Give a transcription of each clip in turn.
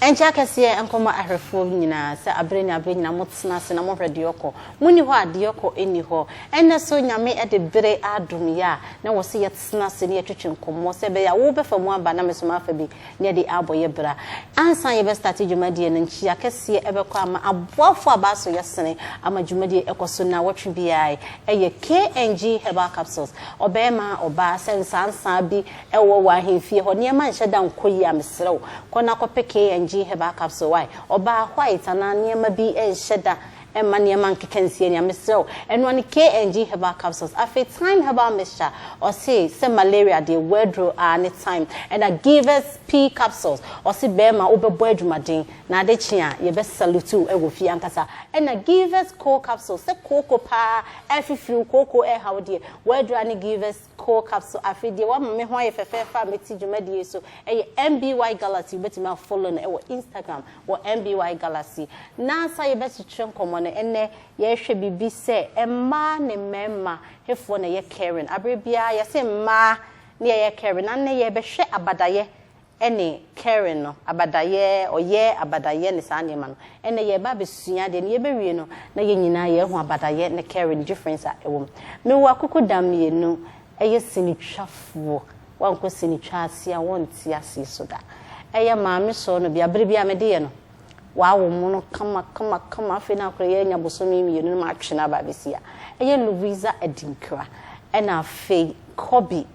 Ɛnkyɛ akɛseɛ nkɔma ahwɛfoɔ nyinaa sɛ abere ne abere nyinaa motena ase na mohwɛ deɛ ɔkɔ. Monni hɔ a deɛ ɔkɔ nni hɔ. Ɛnnɛ so Nyame de bere adom yɛ a na wɔse yɛtena ase na yɛtwetwe nkɔmmɔ sɛ ɛbɛyɛ a wobɛfa mu aba na me nso mafa bi. Yɛde abɔ yɛ bra. Ansa yɛbɛ starte dwumadie no nkyia kɛseɛ ɛbɛkɔ ama aboafoɔ a baaso yɛsene ama dwumadie ɛkɔso naawɔtwe biaa ɛyɛ KNG herbal capsules ɔbɛɛma ɔbaa sɛ nsansaa bi ɛwɔ wɔ ahemfie hɔ nneɛma nhyɛ da nkɔ yie a mesrɛ wo kɔ na kɔpɛ KNG herbal capsule wai ɔbaa white anaa nneɛma bi nhyɛ da Mma nneɛma nkeka nsie nea mesrɛ wo ɛno ara ne KNG herbal capsules afei thyme herbal mixture ɔse sɛ malaria deɛ w'aduro aa ne thyme ɛna givers pea capsules ɔse bɛɛma wobɛbɔ adwumaden na ade kye a yɛbɛ salute wo wɔ fie ankasa ɛna givers coal capsules sɛ kooko paa ɛfifiri wo kooko ɛɛha wo deɛ w'aduro aa ne givers Coal Capsule Afei deɛ wama me ho ayɛ fɛfɛɛfɛ a mete dwumadie so yɛ MBY Galaxy Wobɛtumi a follow no wɔ Instagram wɔ MBY Galaxy Na sa yɛbɛkyekyere nkɔmmɔ no ɛnnɛ yɛrehwɛ biribi sɛ mmaa ne mmarima hefoɔ na ɛyɛ caring Aberɛ biara yɛse mmaa ne yɛyɛ caring Na nnɛ yɛrebɛhwɛ abadayɛ ne caring no, abadayɛ, ɔyɛ, abadayɛ ne saa nneɛma no. Ɛnnɛ yɛreba abɛsua adeɛ no, yɛbɛwie no na yɛn nyinaa yɛahu abadayɛ ne caring difference a ɛwɔ mu. Mewɔ akokɔdam mmienu, ɛyɛ sinitwafoɔ, woankɔ sinitwa ase a wonte aseɛ so da. Ɛyɛ maame sɔɔ no bia, berɛ biara mede yɛ no, wɔawo mo no kama kama kama, afei na akora yi anya bosome mmienu na matwe no aba abɛsi ha. Ɛyɛ Louisa Adinkra ɛna afei Kobbie.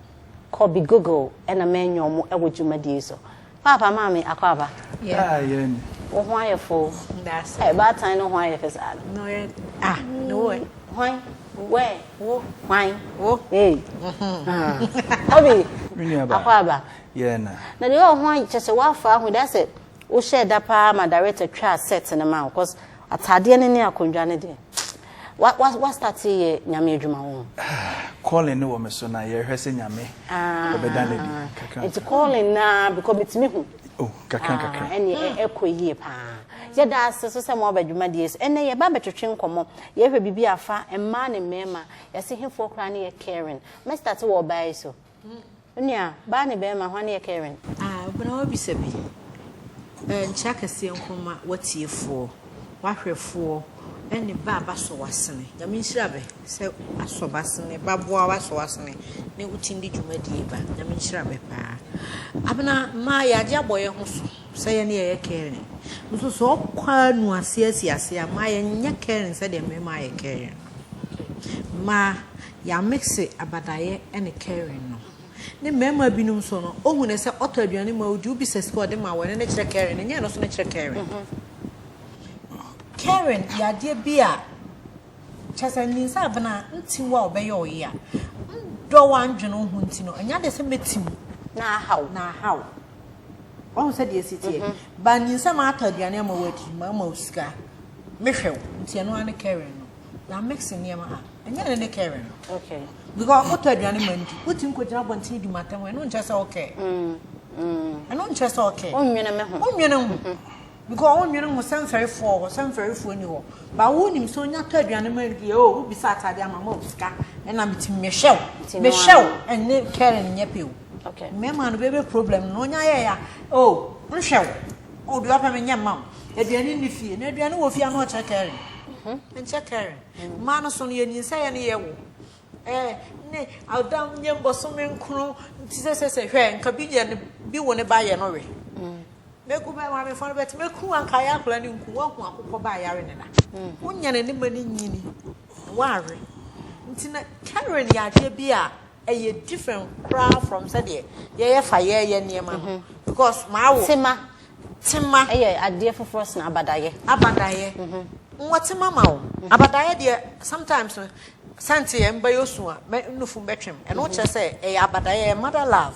kɔ bi google ɛna mɛ nyɛ ɔmo ɛwɔ dwumadie so paapa maame akɔ aba wo ho ayɛ fo ɛ baatan no ho ayɛ fɛ saa no ah no wɛ hwan wɛ wo hwan wo ee obi akɔ aba na deɛ ɔho ayɛ kyɛ sɛ wafa ahu da sɛ wohyɛ da paa ma director twa set no ma wo cause Ataadeɛ no ne akondwa no deɛ wa wa starte yɛ nyame adwuma wɔ ho. Ah calling no wɔ me so na yɛhwɛ sɛ nyame ah, ɔbɛda no adi kakra. Nti calling na because metumi hu. Oh kakra ah, kakra. Ɛne hmm. ɛkɔ yie paa. Yɛda ase so sɛ mo aba dwumadie so. Ɛnɛ yɛba bɛtwetwe nkɔmmɔ. Yɛhwɛ biribi afa mmaa ne mmarima. Yɛse hefoɔ koraa ne yɛ caring. Mɛstate wɔ ɔbaa yi so. Wo nua, baa ne barima, hwan yɛ Karen? A Obena w'abisa bi. Ɛ nkyea kɛseɛ nko mma w'atiefoɔ, w'ahwɛfoɔ ɛne bɛ a b'asɔ w'asene. Nyame nhyira bɛ sɛ asɔ b'asene, b'aboa w'asɔ w'asene ne wo tindi dwumadie ba. Nyame nhyira bɛ paa. Abena, mmaa yɛ agye abɔ yɛ ho so sɛ yɛne yɛ yɛ Karen. Nso sɛ ɔkɔ a nu aseɛ asi aseɛ a, mmaa yɛ nyɛ Karen sɛdeɛ mmarima ayɛ Karen no. Mmaa, Yɛamixe Abadaeɛ ne Karen no. Ne mmarima binom nso no, ɔhu no sɛ ɔtɔ aduane ma ɔdi, wobi sɛ sika a ɔde ma wɔn no ne kyerɛ Karen, ɛnyɛ ɛno nso ne kyerɛ Karen. Karen yɛ adeɛ bi a kyerɛ sɛ nninsɛ abena nti wo a ɔbɛyɛ wo yea. Ndɔ wo a ndwene wo ho nti no, ɛnyɛ adeɛ sɛ mɛti wo na aha wo, na aha wo. Wahu sɛdeɛ ɛsi teɛ? But nninsɛ maatɔ aduane ama wo adi, maama wo sika, mehwɛ wo, nti ɛno ara ne Karen no. na mix nneɛma a ɛnyɛ ne ne kɛrɛ no okay because ɔkɔtɔ aduane ma ndi wotumi kɔgyina abɔntene di matam ɛno nkyɛ sɛ ɔkɛ mm, mm. ɛno nkyɛ sɛ ɔkɛ wonwene me ho wonwene ho mm-hmm. because wonwene ho sɛ mfɛrefoɔ hɔ sɛ mfɛrefoɔ ni hɔ ba wonim sɛ onya tɔ aduane ma ndi o wobisa atade ama ma osika ɛna metumi mehyɛ wo mehyɛ wo ɛne kɛrɛ no nyɛ pɛ o mmarima no bɛbɛ problem no ɔnya yɛ ya o nhwɛ wo O deɛ ɔpɛ menyɛ mma wo. Aduane nni fie na aduane wɔ fie a na ɔkyɛ caring. Ɛnkyɛ caring. Mmaa no so no yɛnyinsɛeɛ no yɛwo eh, ne ada nyɛ mbɔsome nkron nti sɛsɛsɛ hwɛ nka bi yɛ ne bi wo ne ba yɛ no we. Mɛku bɛ maamefoɔ no bɛte mɛku anka ayɛ akwadaa no nku woahu akokɔ ba ayare ne da. Wonyane ne ma no nyini na woawe nti na caring yɛ adeɛ bi a Ɛyɛ different koraa from sɛdeɛ yɛyɛ fa yɛɛyɛ nneɛma no because maa wo. Tema. Tema. Ɛyɛ adeɛ foforɔ sena abadayɛ. Abadayɛ. Nwɔ tema ma wo. Abadayɛ deɛ sometimes no sɛnti yɛ mba yɛ su a mɛ nufu mbɛ twem ɛno kyerɛ sɛ ɛyɛ abadayɛ ɛyɛ mother love.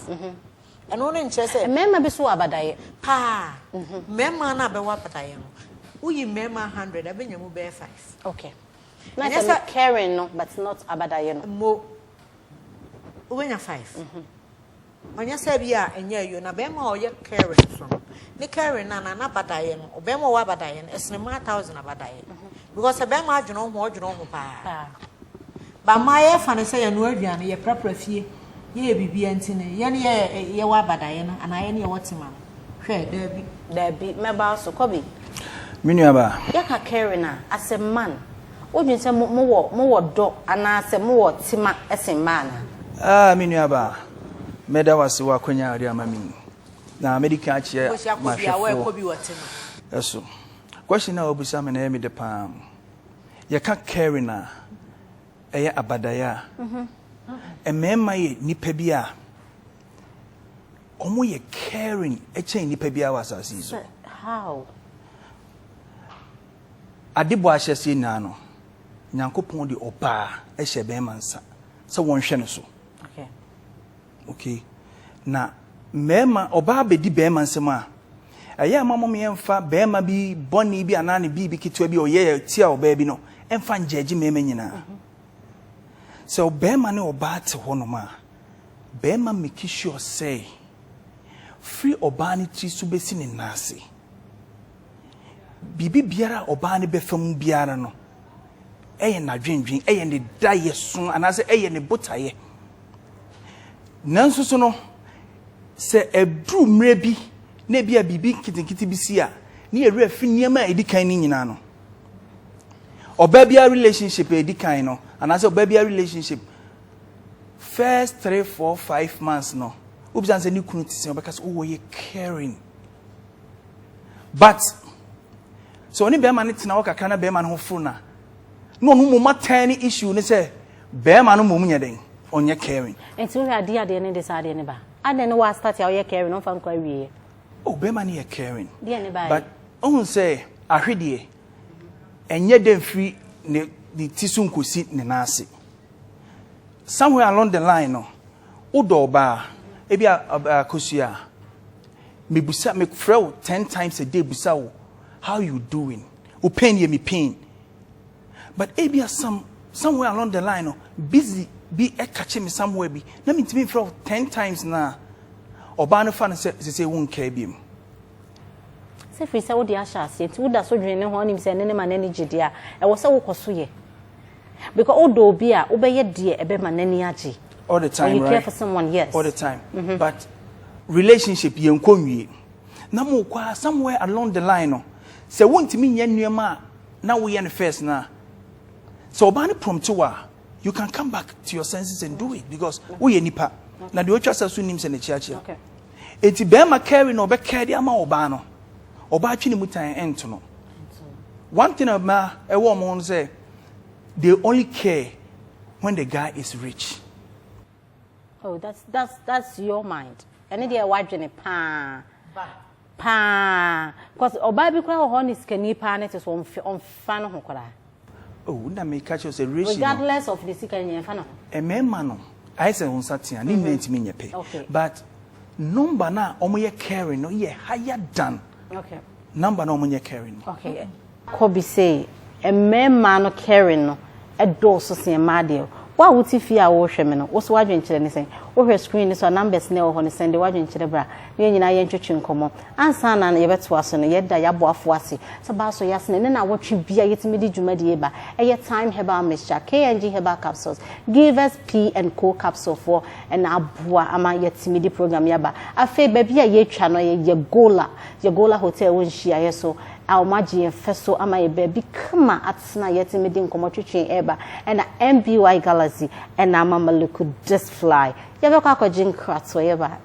Ɛno no nkyerɛ sɛ. Mmarima bi so wɔ abadayɛ. Paa. Mmarima no a bɛwɔ abadayɛ no woyi mmarima hundred a bɛnya mu bɛyɛ five. Okay. Na Ɛnyɛ sɛ sɛ- me caring no but not abadaeɛ no. mmo wobɛnya five ɔnyɛ sɛ bi a ɛnyɛ ayuo na bɛrima a ɔyɛ caring nso no ne caring no anaa n'abadaeɛ no ɔbɛrima a ɔwɔ abadaeɛ no ɛsene mmaa thousand abadaeɛ because sɛ bɛrima adwene wo ho a, ɔdwene wo ho paa Paa. ba mmaa yɛfa no sɛ yɛnoa aduane yɛprapra fie yɛyɛ biribiara nti no yɛne yɛ yɛwɔ abadaeɛ no anaa yɛne yɛwɔ tema no Hwɛ, dabi. Dabi, mɛba wo so. Kɔ bi. Me nuabaa. Yɛka Karen a, asɛ man. Wodwen sɛ mo, mowɔ, mowɔ dɔ anaasɛ mowɔ tema sen mmaa anaa? Ah, me nuabaa, mɛda wo ase wɔ akwanya a wode ama me yi. Na mɛdi kan akyerɛ m'ahwɛfoɔ so. Question no a wabisa me no, ɛyɛ me dɛ pa ara. Yɛka Karen a, ɛyɛ abadaeɛ a. Mmarima yɛ nnipa bi a wɔn yɛ caring kyɛn nipa biara wɔ asase yi so. how. ade bɔ ahyɛseɛ nyinaa no nyankopɔn de ɔbaa hyɛ bɛrima nsa sɛ wɔnhwɛ no so okay. okay na mmarima ɔbaa bɛdi bɛrima nsɛm a ɛyɛ ama mom yɛmfa bɛrima bi bɔne bi anaa ne biribi ketewa bi ɔyɛ tia ɔbaa bi no ɛmfa ngyɛgye mmarima nyinaa mhm. sɛ ɔbɛrima ne ɔbaa te hɔ nom a Bɛɛma meki sure sɛ fri ɔbaa no tiri so bɛsi ne nan ase biribi biara a ɔbaa no bɛfa mu biara no ɛyɛ nadwendwen ɛyɛ ne dayɛ so anaasɛ ɛyɛ ne botayɛ nanso so no sɛ ɛduru mmerɛ bi na ebi a biribi nketenkete bi si a ne yɛwerɛ fi nneɛma a ɛdi kan no nyinaa no ɔbaa biara relationship a ɛdi kan no anaasɛ ɔbaa biara relationship first three four five months no wobisa sɛ ne kunu te sɛ ɔbɛka sɛ oh wɔyɛ caring but sɛ ɔne bɛrima no tena hɔ kakra na bɛrima no ho foro na na ɔno mmom atɛn ne issue ne sɛ bɛrima no mmom nyɛ dɛn ɔnyɛ caring. nti wohwɛ adeɛ adeɛ ne de saa adeɛ ne ba adɛn ne wɔa start a ɔyɛ caring ɔmfa nkɔ awieɛ. o oh, bɛrima no yɛ caring deɛ ne ba but ɔhu sɛ ahwedeɛ ɛnyɛ dɛ firi ne ne ti so nkosi ne nan ase somewhere along the line no wodɔ ɔbaa ebi a ɔbaa kosua a mebusa mefrɛ wo ten times a day busa wo how you doing wo pain yɛ me pain but ebi a some somewhere along the line no busy bi ɛka kye me somewhere bi na mentumi mfrɛ wo ten times na ɔbaa no fa no sɛ sɛ sɛ wo nkaa bi mu Sɛ ɛfiri sɛ wode ahyɛ aseɛ nti woda so dwene ne ho a wonim sɛ ɛno ne ma no ani gye deɛ a, ɛwɔ sɛ wokɔ so yɛ. Because wodɔ obi a, wobɛyɛ deɛ ɛbɛma n'ani agye. All the time, right? When you care for someone, yes. All the time. Mm -hmm. But relationship yɛn kɔ nwie. Na mo kɔ a somewhere along the line no, sɛ wontumi nyɛ nneɛma a na woyɛ no first no a, sɛ ɔbaa no prompt wo a, you can come back to your senses and do it because woyɛ nipa. Na deɛ ɔtwa sa so nim sɛ n'akyiakyia. Okay. Enti bɛɛma kɛɛri na ɔbɛ kɛɛri ama ɔbaa no, ɔbaa twe ne mu tan ɛnto no. One thing a bɛɛma ɛwɔ ɔmo ho no sɛ, they only care when the guy is rich. Oh, that's, that's, that's your mind. Ɛne deɛ ɛwɔ adwene paa. Ba. Paa. Cause ɔbaa bi koraa wɔ hɔ ne sikani paa ne te so ɔmfa no ho koraa. Oh, na me catch us a ratio. Regardless of the sika nyɛ fa na ho. Ɛmɛɛma no, ayɛ sɛ nsa tia, ne nyinaa ntumi nyɛ pɛ. Okay. But number na wɔn yɛ caring no yɛ higher than. Okay. Number na wɔn nyɛ caring no. Okay. Kɔ bi sɛ ɛmɛɛma no caring no ɛdɔɔso sɛn mmaa deɛ. Wo a wote fie a wɔrehwɛ me no, wo so wadwenkyerɛ ne sɛn? Wohwɛ screen ne so a numbers na ɛwɔ hɔ no sɛn de wadwenkyerɛ bra. Yɛn nyinaa yɛntwetwe nkɔmmɔ. Ansa na yɛbɛtoa so no, yɛda yɛn aboafo ase. Sɛ ɛba so yɛ sene ne nnawɔtwe bi a yɛtumi de dwumadi yi ba. Ɛyɛ Thyme Herbal Mixture, KNG Herbal Capsules, Givers P and Co Capsule foɔ na aboa ama yɛatumi de program yi aba. Afei baabi a yɛatwa no yɛ Yagola, Yagola Hotel wɔ Nhyiaeɛ so a wɔagye yɛn fɛ so ama yɛn baabi kama atena a yɛatumi de nkɔmmɔ twetwe ɛreba. Ɛna MBY Galaxy na ama Maluku Disc Fly. Yɛbɛkɔ akɔgye nkratoɔ yɛba.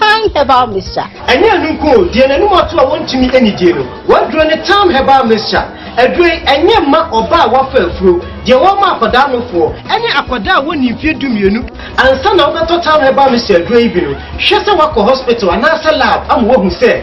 Time herbal mixture. Ɛnyɛ ɛno nko o, deɛ n'anim ato a wɔntumi anidie no, wɔaduro ne Time herbal mixture. Aduro yi, ɛnyɛ mma ɔbaa a wafa afuro, deɛ wɔma akwadaa nofoɔ, ne akwadaa a wɔnni mfeɛ dumienu. Ansa na wobɛtɔ Time herbal mixture aduro yi bi no, hwɛ sɛ woakɔ hospital anaasɛ lab ama wɔahu sɛ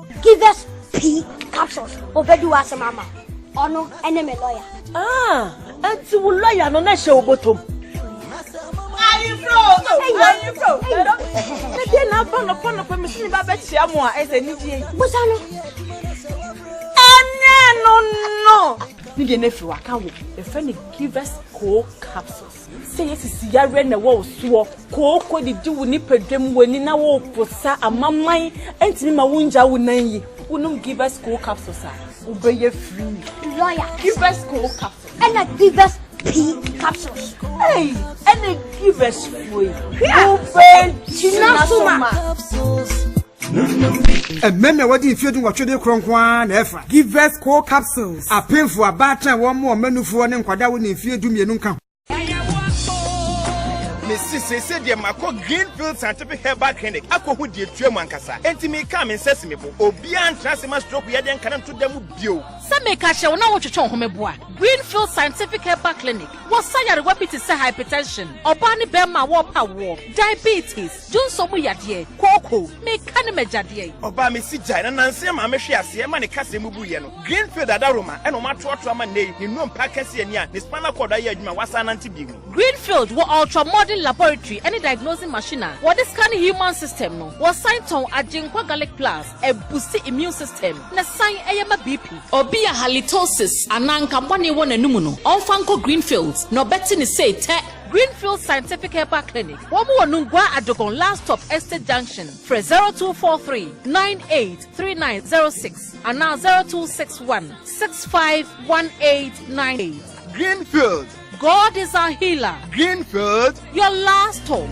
Give us P capsules. Obedi wa asem ama. Ono ene me lawyer. Ah, enti wo lawyer no na hye obotom. Ayi bro, ayi bro. Na dia na ba no pa no pa me sini ba be chia mo a ese ni die. Bosa no. Ene no no. Ni die na fi wa ka wo. E fe ni give us cold capsules. Sɛ yɛsisi yareɛ na ɛwɔ wo soɔ, kooko didi wo nipadwam, w'ani na wopo sa, amaman ntumi ma wongya wo nan yi, wonom Givers Cold Capsules a, wobɛyɛ free. Lawyer. Givers Cold Capsules. Ɛna Givers Pee Capsules. Ei, ɛna Givers foɔ yi. Wobɛgyina so ma. Mmɛ na wɔde mfeɛ dunwɔtwe de korɔ nko ara na ɛfa. Givers Coal Capsules, apemfo, abaatan, wɔn mmoa, mma nufoɔ, ne nkwadaa a wɔnni mfeɛ du mmienu nka ho. Mesi seesei deɛ makɔ Greenfield Scientific Herbal Clinic akɔhu deɛ ɛtua mu ankasa. Enti mekaa me nsa si me bo. Obiara ntra ase mma stroke yadeɛ nka no nto da mu bio. Sɛ meka kyerɛ wo na wotwetwe wo ho me boa. Greenfield Scientific Herbal Clinic wɔ sa nyarewa bi te sɛ hypertension, ɔbaa ne barima a wɔrepɛ awoɔ, diabetes, Dwonsɔ mu yadeɛ, kooko, meka ne m'agya deɛ. Ɔbaa me si gyae na nanse ɛmaa me hwee aseɛ ɛma ne kasa mu buiɛ no. Greenfield adaworoma ɛna wɔatoatoa ma nnɛ yi, ne nnompe akɛseɛ ni a ne spinal cord ayɛ adwuma a wasan anante bio ni. Greenfield wɔ ultra-modern laboratory ɛne diagnosing machine a wɔde scan human system no. Wɔsan tɔn Agyenkwa Garlic Plus, ɛbusti immune system na san ɛyɛ ma BP. Obi a halitosis anaa nkabɔne wɔ n'anomu no, ɔmfa nkɔ Greenfield na ɔbɛte ne seetɛ. Greenfield Scientific Herbal Clinic, wɔn wɔ Nungua Adogon last stop Estate Junction, frɛ zero two four three nine eight three nine zero six anaa zero two six one six five one eight nine eight. Greenfield. God is our healer. Greenfield. Your last hope.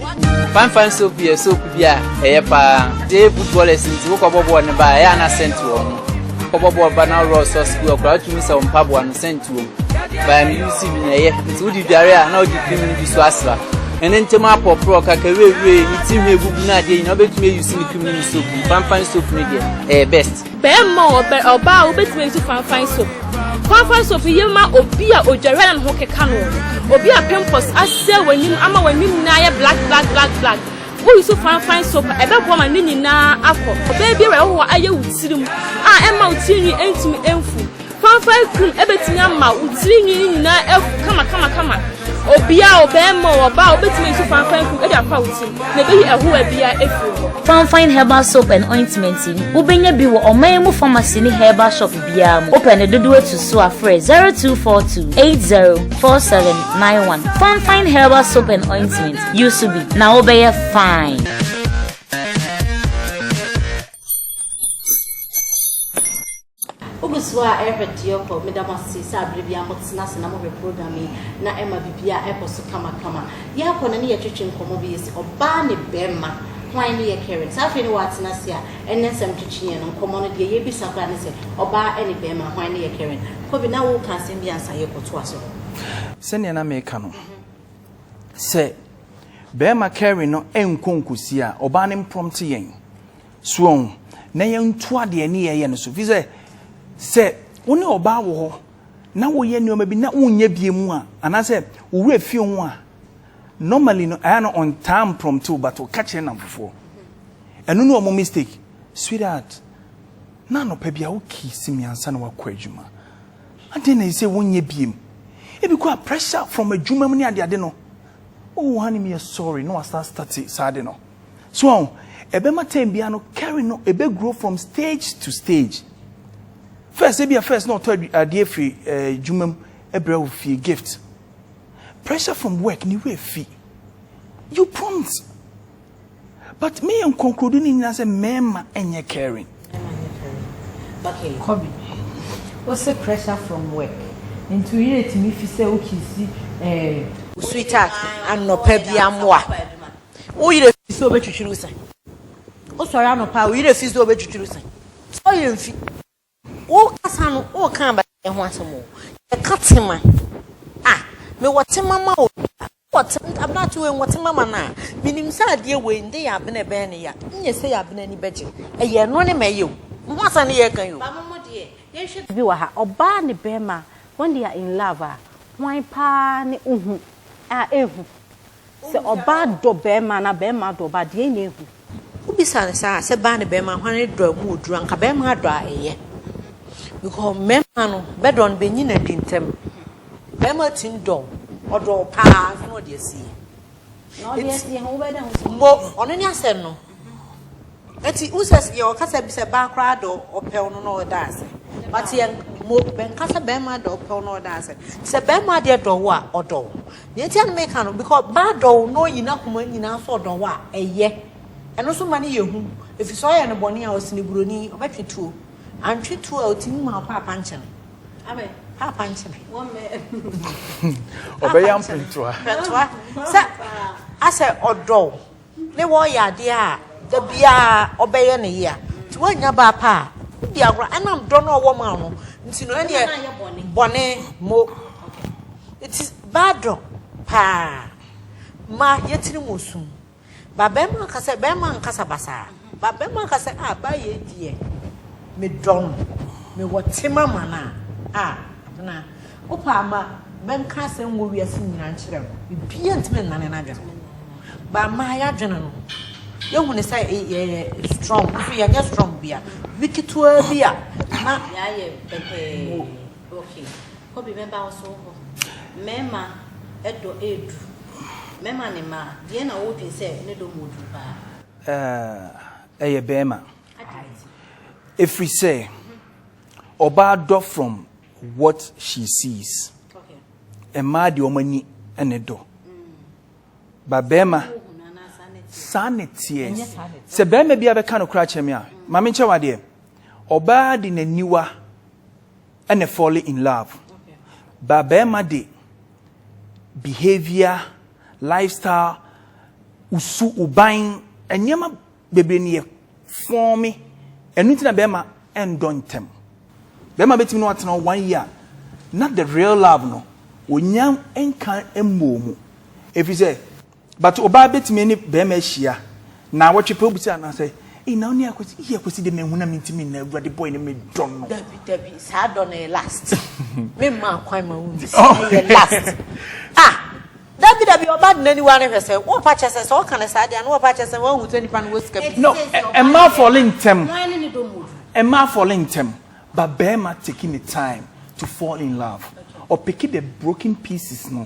Fanfan soap yɛ soap bi a ɛyɛ paa. Dee footballers nti wokɔ bɔ bɔɔl no ba ɛyɛ ana sɛnt wɔ ho. Wokɔ bɔ bɔɔl ba na worɔ sɔs bi wɔ koraa wotumi sɛ wo mpaboa no sɛnt Baa me UC bi na ɛyɛ nti wodi dware a na wodi cream no bi so asra. Ɛne ntɛm apɔporɔ kaka wiewie ne ti ho egugu na adeɛ nyinaa wobɛtumi ayi si ne cream no ne soap no. Fanfan soap no deɛ ɛyɛ best. Bɛrima o ɔbaa o wobɛtumi ayi si fanfan soap. Fanfan soap yɛ ma obi a odware a na ne ho keka no. Obi a pimples asɛ w'anim ama w'anim nyinaa ayɛ black black black black. Woyi so fanfan soap a ɛbɛboa ma ne nyinaa akɔ. Ɔbaa biara a ɛwɔ hɔ ayɛ wo tirim a ɛmma wo tirinwi ntumi mfu. Fanfae kum bɛtumi ama wo tiri nwi no nyinaa agu kamakamakama. Obia o, bɛɛma o, ɔbaa o, wobɛtumi ayi so fanfae kum de apa wo tirim na ɛbɛyi ɛhoa bia afiri hɔ. Fanfae herbal soap and ointment yi, wobɛnya bi wɔ ɔman mu pharmacy ne herbal shop biara mu. Wopɛ ne dodoɔ atu so a, frɛ 0242804791. Fanfae herbal soap and ointment, use so bi na wobɛyɛ fine. Wogu so a Ever Dioko meda mo ase sɛ aberɛ biara mo tena ase na mo hwɛ program yi na ɛma biribiara ɛkɔ so kama kama. Yɛkɔ no ne yɛ twetwe nkɔmmɔ bi yɛsi ɔbaa ne bɛɛma hwan ne yɛ caring saa afei ne wa tena ase a ɛnɛ nsɛm twetwe yɛn no nkɔmmɔ no deɛ yɛ bisa koraa ne sɛ ɔbaa ɛne bɛɛma hwan ne yɛ caring. Kobe na wo ka asɛm bi ansa yɛ kɔ toa so. Sɛdeɛ na meka no sɛ bɛɛma caring no ɛnkɔ nkɔsi a ɔbaa no mprɔmte yɛn. So ɔho, na yɛntoa deɛ ɛne yɛyɛ no so. Ɛfiri sɛ, sɛ wo ne ɔbaa wɔ hɔ na woyɛ nneɛma bi na wonyɛ bie mu a, anaasɛ wo werɛ fie ho a, normally no ɛyɛ na ɔntaa mprɔmte wo but ɔka kyerɛ namfofoɔ. Ɛno ne wɔn mistake. Sweetheart, na anɔpa bi a wo kiisi me ansa na wakɔ adwuma. Adɛn na ɛsɛ wonyɛ bie mu? Ebi kɔ a pressure from adwuma mu ne adeade no. Oh honey, meyɛ sorry na wasa start saa ade no. So wɔn? Ɛbɛma term biara no carry no ebe grow from stage to stage. First, ebi a first na ɔtɔ adeɛ firi adwuma mu ɛbrɛ wo fie gift. Pressure from work ne wura fi. You prompt. But me yɛ nkɔnkorodu ne nyinaa sɛ mmarima nyɛ caring. Okay, Kobe. What's the pressure from work? Into it, me fi say okay, see, eh. Sweetheart, anɔpa bi amoa. Wo werɛ fi sɛ obetwitwiri wo se? Wosɔre anɔpa a, wo werɛ fi sɛ obetwitwiri wo se? Sɛ wo werɛ mfi. Wokasa no, woka abɛyɛ ho asɛm o. Yɛka tema. A, mewɔ tema ma obi a. Wɔ tema, abena te wei, wɔ tema ma no a. Menim sɛ adeɛ wei, nde yɛ abena ɛbɛyɛ ne ya. Nyɛ sɛ yɛ abena ani bɛgye. Ɛyɛ ɛno ne ma ɛyɛ o. Mo ho asɛm ne yɛreka yi o. Ba mo mo deɛ, yɛnhwɛ biribi wɔ ha. Ɔbaa ne barima, when they are in love a, hwan paa ne ohu a ɛhu? Sɛ ɔbaa dɔ bɛɛma anaa bɛɛma dɔ ɔbaa deɛn na ɛhu? Wo bisa no saa a sɛ baa ne bɛɛma hwan ne dɔ a ɛmu ɔduru anka bɛɛma adɔ a ɛyɛ because mmɛɛma no bɛdɔ no bɛnyi no adi ntɛm bɛɛma tumi dɔ wo ɔdɔ wo paa na ɔde asie nti mbo ɔno ne asɛm no. Eti wo sɛ yɛ ɔkasa bi sɛ baa koraa dɔ ɔpɛw no na ɔda ase but yɛ mo bɛnka sɛ bɛrima dɔ ɔpɛw na ɔda ase sɛ bɛrima adeɛ dɔ wo a ɔdɔ wo nea nti a na meka no because baa dɔ wo na ɔyi n'akoma nyinaa so ɔdɔ wo a ɛyɛ ɛno nso ma no yɛ hu efisɛ ɔyɛ no bɔne a ɔsene buroni ɔbɛtwe tuo antwe tuo a ɔtumi ma paapa nkyene amen paapa nkyene ɔbɛyɛ mpentoa sɛ asɛ ɔdɔ wo ne wɔ yɛ adeɛ a da biara ɔbɛyɛ ne yea nti woannya baa pa a wodi agorɔ ɛnam dɔ no a ɔwɔ ma wo no nti no ɛneɛ bɔne mo nti baa dɔ paa ma yɛtiri mu osum ba bɛrima nkasa bɛrima nkasa basaa Babarima ankasa a bayɛ deɛ me dɔ no me wɔ tema ma no a ah Abena wo pɛ a ma bɛ nka asɛm wɔ wiase nyinaa nkyerɛ no bibiaa ntumi nnane n'adwene ho ba ma yɛ adwene no yɛ hunu sɛ yɛ yɛ strong nso yɛ nyɛ strong bia bi ketewa bi a na yɛ ayɛ pɛpɛɛ ok kɔbi mɛ ba wo so hɔ mɛma ɛdɔ ɛdu mɛma ne ma deɛ na wo dwen sɛ ne dɔ mu ɔduru paa. Ɛɛ, ɛyɛ bɛɛma. Ɛfirisɛ ɔbaa dɔ from what she sees. Mmaa deɛ wɔn ani ne dɔ. But bɛɛma, saa ne teɛ. Sɛ bɛɛma bia bɛka no koraa kyerɛ me a, ma me nkyɛ wo adeɛ. Ɔbaa de n'aniwa ne fall in love. But bɛɛma de behavior Lifestyle, wo su, wo ban, nneɛma bebree no yɛ fɔɔme. Ɛno nti na bɛrima ndɔ ntɛm. Bɛrima bɛtumi ne watena hɔ one year na the real love no ɔnya nka mmɔɔ mu. Ɛfiri sɛ, but ɔbaa bɛtumi ne bɛrima ahyia Naawɔtwe pɛ wobisa anaa sɛ ei na wone akwasi ei akwasi de menhu na mentimi nna awurade boy no medɔ no. Dabi dabi saa dɔ no yɛ last me mma akwan ma wo nsi oh. ɛyɛ last ah dabi dabi ɔba de n'aniwa no hwɛ sɛ wɔpa kyɛ sɛ sɛ ɔka no saa deɛ no wɔpa kyɛ sɛ wɔahu sɛ nipa no wɔ sika bi no ɛma afɔle ntɛm ɛma afɔle ntɛm ba bɛrima taking the time to fall in love ɔpeke the broken pieces no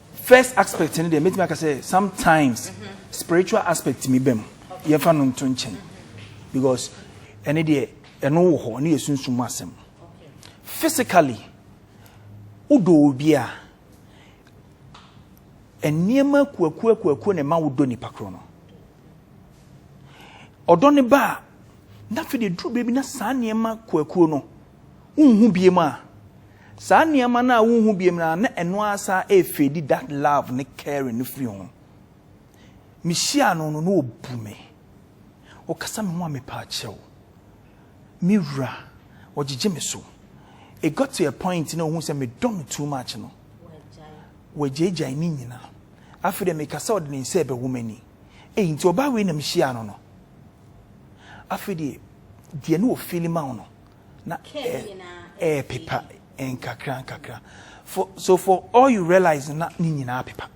First aspect no deɛ mɛtumi aka sɛ sometimes spiritual aspect mi bɛ mu yɛmfa no nto nkyɛn because ɛne deɛ ɛno wɔ hɔ ɛne yɛ sunsum mu asɛm physically wodɔ obi a nneɛma kuakuakuakuo na ɛma wodɔ nipa korɔ no ɔdɔ ne ba a na afei deɛ duru baabi na saa nneɛma kuakuo no Wonhu biom a, saa nneɛma no a wonhu biom no a na ɛno ara saa ɛrefeedi that love ne caring no firi ho. Mehyia no no na ɔbu me. Ɔkasa me ho a mepaa kyɛw. Me wura, ɔgyegye me so. It got to a point na ɔhu sɛ medɔ no too much no. Wagyaagyae ne nyinaa. Afei deɛ meka sɛ ɔde ne nsa ɛbɛwɔ m'ani. Ei, nti ɔbaa wei na mehyia no no. Afei deɛ, deɛ ne ɔfeeli ma wo no. na ɛɛpepa nkakra nkakra for so for all you realize na ne nyinaa pepa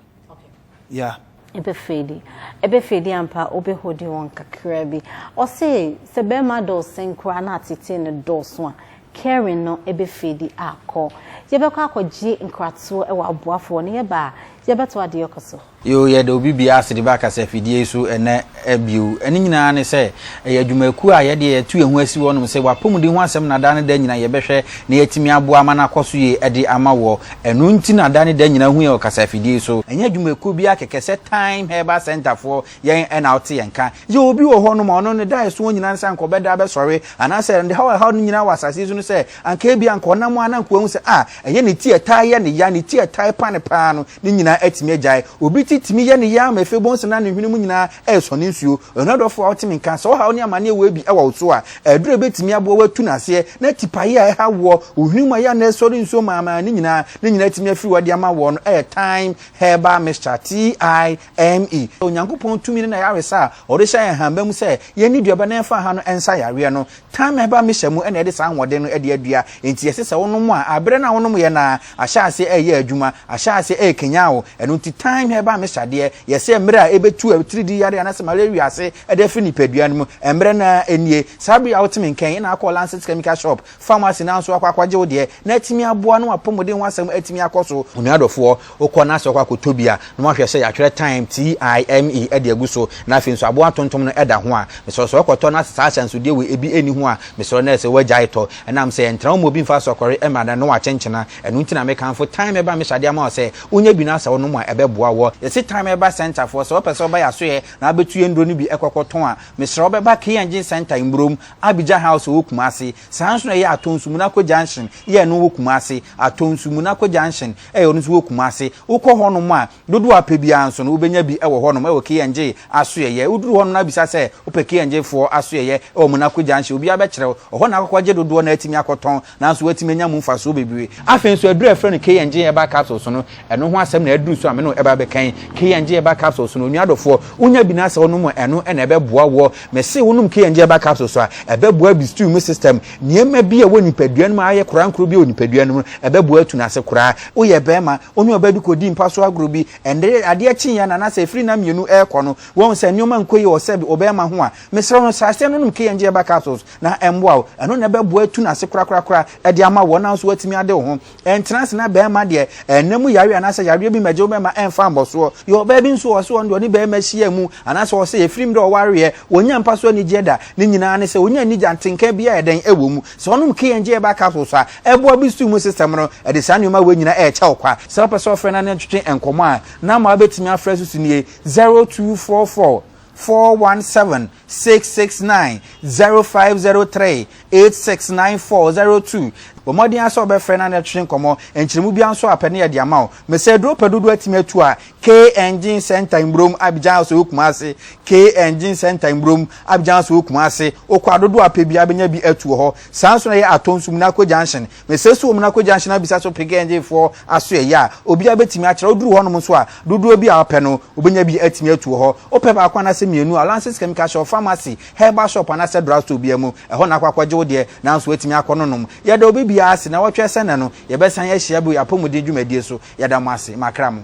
yeah ɛbɛfɛdi ɛbɛfɛdi ampa wobɛhodi wɔn kakra bi ɔse sɛ bɛrima dɔɔsen koraa na atete no dɔɔso a caring no ɛbɛfɛdi akɔ yɛbɛkɔ akɔgye nkratoɔ wɔ aboafoɔ no yɛba a yɛbɛto adeɛ kɔ so Yoo, yɛda obi biara ase de ba kasafidie yi so ɛnnɛ bio. Ɛno nyinaa ne sɛ, ɛyɛ adwumakuo a yɛdeɛ yɛatu yɛn ho asi hɔ nom sɛ w'apɔmuden ho asɛm na daa ne da nyina yɛbɛhwɛ na yɛatumi aboa ama no akɔ so yie de ama woɔ. Ɛno nti na da ne da nyina hu yɛn wɔ kasafidie yi so. Ɛnyɛ adwumakuo biara kɛkɛ sɛ Thyme Herbal Centre foɔ yɛn na wote yɛn nka. Yɛwɔ obi wɔ hɔ nom a ɔno ne da a ɛsoɔ nyina ne sɛ anka ɔbɛda abɛsɔre anaasɛ ne haw a ɛhaw no nyina wɔ asase yi so ne sɛ, Anka ebia anka ɔnam a na anka wahu sɛ, ah, ɛnyɛ ne ti a ɛtaa yɛ no ya, ne ti a ɛtaa repa no paa no, ne nyinaa atumi agyae. Obi ti tumi yɛ no ya ma afei bohu sɛ na ne hwene mu nyinaa resɔ ne nsuo. Ɔyɔnɔ dɔfo a wote me nka, sɛ ɔhaw ne amaneɛ wɔ bi wɔ wo so a, aduro a ɛbɛtumi aboa wo atu no aseɛ, na tipaeɛ a ɛhaw woɔ, wo hwene mu a ɛyɛ a na ɛresɔre nsuo maamaa no nyinaa, ne nyinaa atumi afiri hɔ de ama woɔ no yɛ Thyme Herbal Mixture, T-h-y-m-e. Onyankopɔn tumi ne n'ayaresa a ɔde hyɛ yɛn hanba mu sɛ yɛnni duaba na yɛmfa ha no nsa yareɛ no. Thyme-ba mixture mu na yɛde saa ahoɔden no de adua, enti ɛsɛ sɛ wonom a bere no a wonom yɛ no ara ahyɛ ase reyɛ adwuma, ahyɛ ase rekanyan wo. Ɛno nti thyme-ba mixture deɛ, yɛsɛ mmere a ɛbɛtu atiridii yare anaasɛ malaria wiase de afiri nipadua no mu. Mmere no ara nie. Saa bere yi a wote me nka yi na akɔ Lancet Chemical Shop, pharmacy no ara nso akɔ akɔgye wo deɛ, na atumi aboa na w'apɔmuden ho asɛm atumi akɔ so. Onua dɔfoɔ, Wokɔ na sɛ wokɔ akɔtɔ bi a, na woahwɛ sɛ yɛatwerɛ time, T-I-M-E, de agu so, na afei nso aboa tontom no da ho a, mesrɛ wo sɛ wokɔtɔ na sɛ saa ahyɛnsodeɛ wei ebi nni ho a, mesrɛ wo na ɛsɛ wagyae tɔ. Ɛnam sɛ ɛntra wo mu a obi mfa asɔkɔre mmra na ɛno wakyenkyena. Ɛno nti na mekamfo time ba mehyɛ adeɛ ama wo sɛ wonya bi na sɛ wonom a ɛbɛboa wo. Yɛse time ba centre foɔ, sɛ wopɛ sɛ woba yɛn asoeɛ na wobɛtu yɛn nnuro no bi kɔkɔtɔn a, mesrɛ wo bɛba Key Engine Centre Mburom, Abidjan House ɛwɔ Kumasi. Saa ara nso na ɛyɛ Atonsu Munako Junction, EN, wɔ Kumasi, Atonsu Munako Junction, Ɛyɛ no nso wɔ Kumasi. Wokɔ hɔnom a, dodoɔ a wopɛ biara nso no, wobɛnya bi wɔ hɔnom wɔ KNJ asoɛeɛ. Woduru hɔnom no na bisa sɛ wopɛ KNJ foɔ asoɛeɛ wɔ Monako Junction, obiara bɛkyerɛ wo. Ɛhɔ na wobɛkɔ akɔgye dodoɔ na woatumi akɔtɔn, nanso woatumi anya mu mfasoɔ bebree. Afei nso, aduro a wɔfrɛ no KNJ Herbal Capsules no, ɛno ho asɛm na aduru so a me ne wo reba abɛka yi. KNJ Herbal Capsules no, onua dɔfoɔ, wonya bi na sɛ wonom a, ɛno na ɛbɛboa woɔ. Mese wonom KNJ Herbal Capsules a, ɛbɛboa bi stew mu system, Nneɛma bi a ɛwɔ nipadua no mu a ayɛ korankoro bi wɔ nipadua no mu no, ɛbɛboa atu no ase koraa. Woyɛ barima, wo ne ɔbaa bi kɔdii mpa so agorɔ bi, ɛnde adeɛ kye yɛn anaasɛ ɛfiri nna mmienu rekɔ no, woahu sɛ nneɛma nkɔ yie wɔ sɛbe ɔbarima ho a, mesrɛ wo no, saa aseɛ no nom K-Enjeaba capsules na ɛmmoa wo. Ɛno na ɛbɛboa atu no ase korakorakora de ama wo, wo nso woatumi ade wo ho. Ɛntena ase na barima deɛ ɛnna mu yareɛ anaasɛ yareɛ bi mmɛgye wo bɛma ɛmfa mmɔsoɔ. Yɛ ɔbaa bi nso wɔ sɛ ɔno deɛ ɔne barima hyia mu anaasɛ ɔwɔ sɛ ɛfiri mmerɛ ɔwareɛ ɔnnya mpa so anigyeɛ da. Ne nyinaa ne sɛ ɔnya anigye a ntenka biara ɛdɛn ɛwɔ mu. Sɛ ɔnom KNJ herbal capsules a, ɛboa boost immune system no, ɛde saa nneɛma wei nyinaa ɛrekyɛ wo kwa. Sɛ wopɛ sɛ wofrɛ na ne ntwetwe nkɔmmɔ a, number a wobɛtumi afrɛ so so nie, 0244. four one seven six six nine zero five zero three eight six nine four zero two bɔ mmɔden ara sɛ wobɛfrɛ na ne twetwe nkɔmmɔ nkyerɛmu biara nso a pɛ ne yɛde ama wo mesɛ aduro wopɛ dodoɔ atumi atu a k engine center mmurom abigyan house wɔ kumase k engine center mmurom abigyan house wɔ kumase wokɔ adodoɔ a pɛ biara bɛnya bi atu wɔ hɔ saa nso na ɛyɛ atɔn sumina akɔ junction Mesrɛ so wɔ mu na kɔ junction abisa so Pick NJ foɔ asoɛeɛ a obiara bɛtumi akyerɛ wo. Duru hɔnom nso a, dodoɔ bi a wopɛ no, wobɛnya bi atumi atu wɔ hɔ. Wopɛ baako anaasɛ mmienu a, Lance's Chemical Shop, Pharmacy, Herbal Shop anaasɛ Drug Store biara mu, ɛhɔ na akɔ akɔgye wo deɛ, nanso woatumi akɔ no nom. Yɛda obi biara ase. Nnawɔtwe asan nnɛ no, yɛbɛsan ahyia bio yɛn apɔmuden dwumadie so. Yɛda mo ase. Makra mo.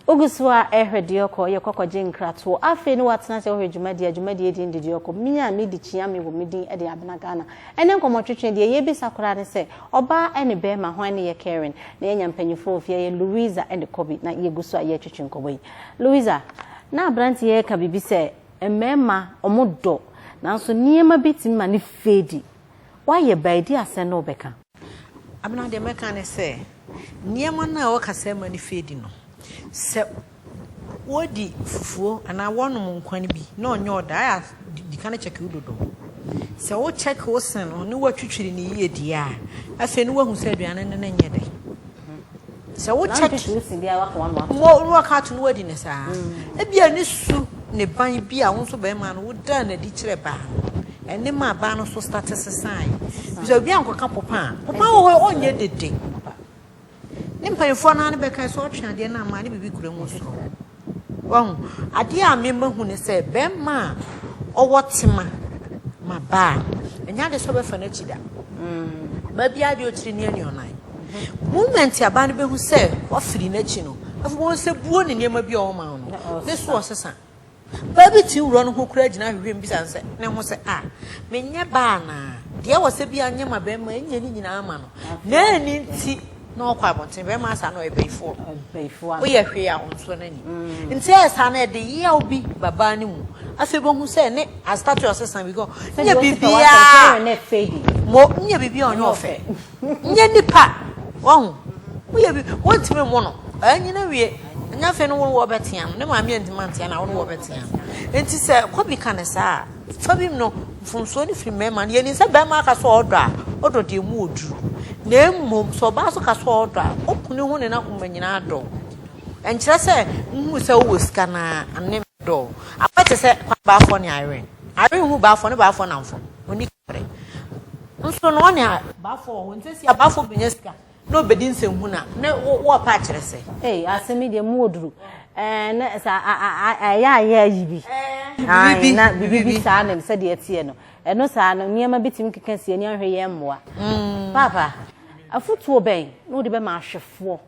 Wogu so ara rehwɛ deɛ ɔkɔ, yɛ kɔ kɔgye nkratoɔ. Afei ne woatena ase wohwɛ dwumadie a dwumadie din de deɛ ɔkɔ, me a me di kyea me wɔ me din de abena Ghana. Ɛnɛ nkɔmmɔtwetwe deɛ yɛbisa koraa ne sɛ, ɔbaa ɛne bɛɛma hwan ne yɛ caring? Na yɛanya mpanyinfoɔ wɔ fie ha, yɛ Louisa ɛne Kobe na yɛgu so a yɛretwetwe nkɔmmɔ yi. Louisa, na abranteɛ yi reka biribi sɛ mmarima wɔdɔ nanso nneɛma bi tumi ma no fade. Woayɛ baa di asɛn na wobɛka. Abena, Deɛ mɛka ne sɛ, nneɛma no a wɔka sɛ mma no firi adi no, sɛ wɔdi fufuo anaa wɔnom nkwa no bi na ɔnyɛ ɔda a, di kane kyɛke wo dodo. Sɛ wokyɛke wo se no ne woatwitwiri no yie deɛ a, afei na woahu sɛ aduane no ne nyɛ dɛ. Sɛ wo check mo ruwa ka to no wadi ne saa. Ebi a ne su ne ban bi a wo nso bɛrima no wo dan na di kyerɛ baa no. Ɛne ma baa no so start sesan. Bisa obi anko ka popa. Popa wo ho onye dede. Ne mpanyinfoɔ naa ne bɛka so ɔtwe adeɛ na ama ne bibi kura mu so. Wahu? Adeɛ a me mahu ne sɛ bɛrima a ɔwɔ tema ma ba a, ɛnyɛ adeɛ sɛ ɔbɛfa n'akyi da. Mm. Ba biara deɛ ɔkyiri ne anuanan. Mm-hmm. Moment a ba no bɛhu sɛ wafiri n'akyi no, afei wɔn sɛ buo ne nneɛma bi a ɔma no, ne so ɔsesa. Baa bi ti wura no ho kura gyina ahwehwɛ mu bisa sɛ ne ho sɛ a menyɛ baa na deɛ wɔ sɛ bi anyɛ ma bɛrima ɛnyɛ ne nyinaa ma no na ɛni nti Na ɔkɔ abɔnten bɛrima asa na ɔyɛ bayifoɔ bayifoɔ woyɛ hwee a ɔnsɔ no ani mm. nti ɛyɛ saa no ɛde yaw bi babaa no mu afei bɛhu sɛ ne astate ɔsesa bi kɔ nyɛ biribiaa mo nyɛ biribiaa ɔnyɛ ɔfɛ nyɛ nipa wahu woyɛ bi wontumi mo no ɛnyina wie ɛnyɛ afei no wone wɔbɛtea no ne maame antimi antea no a wone wɔbɛtea no nti sɛ kɔbi ka ne saa a Fa bi mu no, mfomsoɔ no firi mmarima no. Yɛnim sɛ barima ka sɛ ɔdɔ a, ɔdɔ deɛ mu ɔduru. Na mmom, sɛ ɔbaa nso ka sɛ ɔdɔ a, ɔku ne ho ne n'akoma nyinaa dɔ. Ɛnkyerɛ sɛ wohunu sɛ wowɔ sika no ara, ɛno ne dɔ. Abɛyɛ te sɛ Kwame Baafoɔ ne Irene. Irene hu Baafoɔ ne Baafoɔ nnamfo. Ɔnni kaprɛ. Nso no, ɔne Baafoɔ wɔ hɔ. Nsɛ si a, Baafoɔ bɛnya sika. Na ɔbɛdi nsɛnhunu a, na wɔrepɛ akyerɛ sɛ. Ei, asɛm yi deɛ, mu wɔ duru. Ɛɛ, na sɛ ɛyɛ a yɛayi bi. Aane, na biribi saa ne sɛdeɛ ɛteɛ no. Ɛno saa no, nneɛma bi tumi keka si ani ahwɛ yɛn mmoa. Paapa, afotuo bɛn na wode bɛma ahwɛfoɔ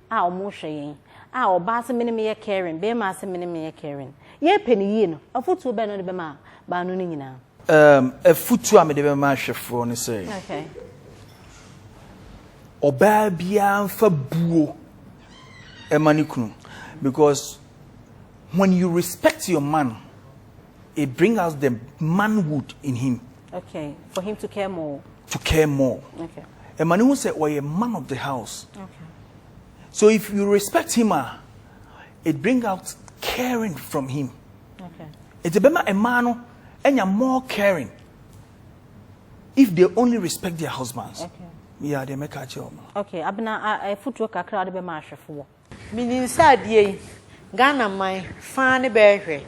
a wɔrehwɛ yɛn? A, ɔbaa se, Me ne meyɛ Karen, barima se, Me ne meyɛ Karen. Yɛrepɛ no yie no, afotuo bɛn na wode bɛma baanu no nyinaa? Um, afutu a mede bɛma ahwɛfoɔ ne sɛ, ɔbaa biara nfa buo ɛma ne kunu, because when you respect your man, it brings out the manhood in him. Okay, for him to care more. To care more. Okay. Ɛma ne ho sɛ ɔyɛ man of the house. Okay. So if you respect him, ah, It bring out caring from him. Okay. It's a bema emano enya more caring if they only respect their husbands. Okay. Yeah, they make a job. Okay, abena a uh, futuo kakra ade bema ahwefo wo. Menim sɛ adeɛ yi Ghana man faa ne bɛɛhwɛ.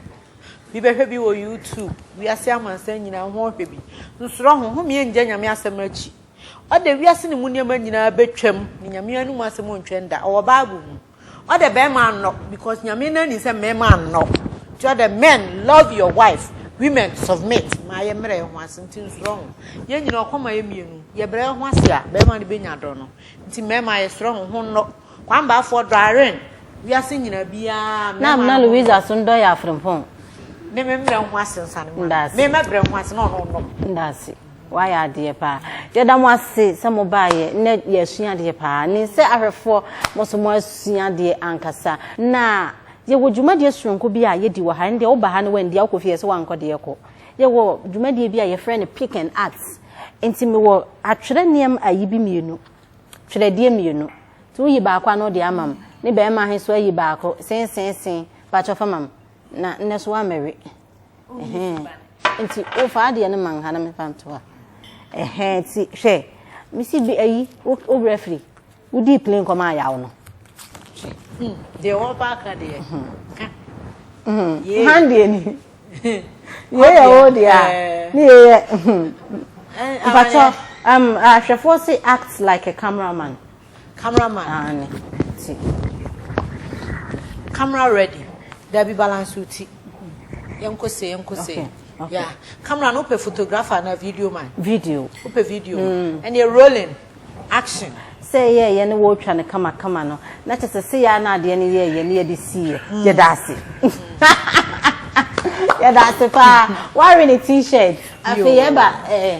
Bi bɛhwɛ bi wɔ YouTube. Wiase amansan nyinaa ho hwɛ bi. Nsoro ho ho mie ngya nyame asɛm akyi. Ɔde wiase ne mu nneɛma nyinaa betwam. Ne nyame anum asɛm ntwɛn da. Ɔwɔ Bible mu. Ɔdɛ bɛɛma nnɔ because Nyame no anim sɛ mmɛɛma nnɔ nti ɔdɛ men love your wife women submit ma yɛ mbrɛ yɛho ase nti nsorɔ ho yɛn nyina ɔkɔ ma yɛ mienu yɛ brɛ yɛho ase a bɛɛma no bɛnya dɔ no nti mmɛɛma yɛ sorɔ ho ho nnɔ kwambaafoɔ dɔ awren wiase nyina biaa na amena Louisa so ndɔ yɛ afrempɔn ne me mbrɛ ho ase nsa ne ma me mɛbrɛ ho ase na ɔno ɔnnɔ me. Wayɛ adeɛ paa. Yɛda mo ase sɛ mo baeɛ. Nnɛ yɛasua adeɛ paa. Nen sɛ ahwɛfoɔ mo nso mo asua adeɛ ankasa. Na yɛwɔ dwumadie sononko bi a yɛdi wɔ ha. Ɛndeɛ wo ba ha na woandi a wokɔ fie yɛse woankɔ deɛ kɔ. Yɛwɔ dwumadie bi a yɛfrɛ no pick and art. Nti mewɔ atwerɛ nneɛma ayi bi mmienu. Twerɛdeɛ mmienu. Nti woyi baako a na wode ama me. Ne barima he nso ayi baako. Seeseesee. Pakyɛ fa ma me. Na nnɛ nso woammɛwe. nti wofa adeɛ no ma nha na mefa nto ha ɛhɛn ti hwɛ mesi bi ayi wobrɛ firi wodi plane kɔma ayaw no hmm, deɛ wɔba aka deɛ hmm. ka hmm. han deɛ ni yɛyɛ wo deɛ a eh. ne yɛyɛ eh, mpatɔ ahwɛfoɔ se act like a cameraman Camera man. Aane ti. Camera ready. Dabi balance wo ti. Yɛnkɔ se yɛnkɔ se. Okay. Yeah. Camera no wopɛ photographer na video man. Video. Wopɛ video. Mm. And you're rolling. Action. Sɛ yɛ yɛ ne wɔtwa no kama kama no na kyɛ sɛ sɛ yɛ na adeɛ no yɛ yɛ ne yɛde si yɛ mm. yɛda ase. Yɛda ase paa. Wari ne t-shirt. Afei yɛba ɛɛ. Eh,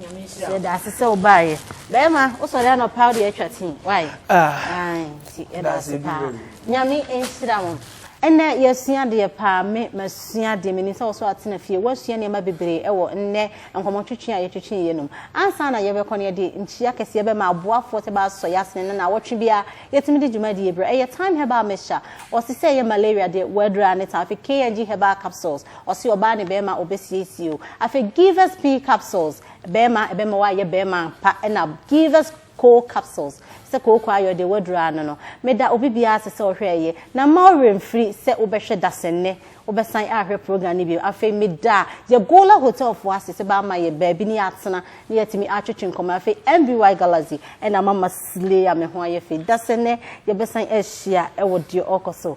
Yɛda ase sɛ wobaeɛ. Bɛrima, wosɔre anɔpa wode atwa tii. Why? Ah. Nti yɛda ase paa. Nyame nhyira mo. Ɛnɛ yɛasua adeɛ paa, me masua adeɛ, menim sɛ wɔso atena fie, woasua nneɛma bebree ɛwɔ nnɛ nkɔmmɔtwetwe a yɛtwetwe yɛ nom. Ansa na yɛbɛkɔ no yɛde nkyia kɛseɛ bɛma aboafoɔ sɛ baasɔ yɛ asene no naawɔtwe biara yɛtumi de dwumadie berɛ. Ɛyɛ Time Herbal Mixture, wɔse sɛ ɛyɛ malaria deɛ, wɔadura ne ta. Afei KNG Herbal Capsules, Ɔse ɔbaa ne bɛɛma ɔbɛsiesie o. Afei give us pee capsules bɛɛma ɛbɛma w'ayɛ bɛɛma ampa ɛna give us koo capsules sɛ kooko ayɛ ɔdeɛ w'aduru ano no meda obi biaa ase sɛ ɔhwɛ ɛyɛ na mma wo werɛ mfiri sɛ wo bɛhwɛ dasɛnnɛ wo bɛsan ahwɛ program no bio afei meda Yagola hotel foɔ ase sɛ bɛama yɛ baabi ne yɛatena ne yɛatumi atwetwe nkɔmmɔ afei MBY Galaxy ɛna mama slay a me ho ayɛ fɛ dasɛnnɛ yɛbɛsan ahyia ɛwɔ deɛ ɔɔkɔ so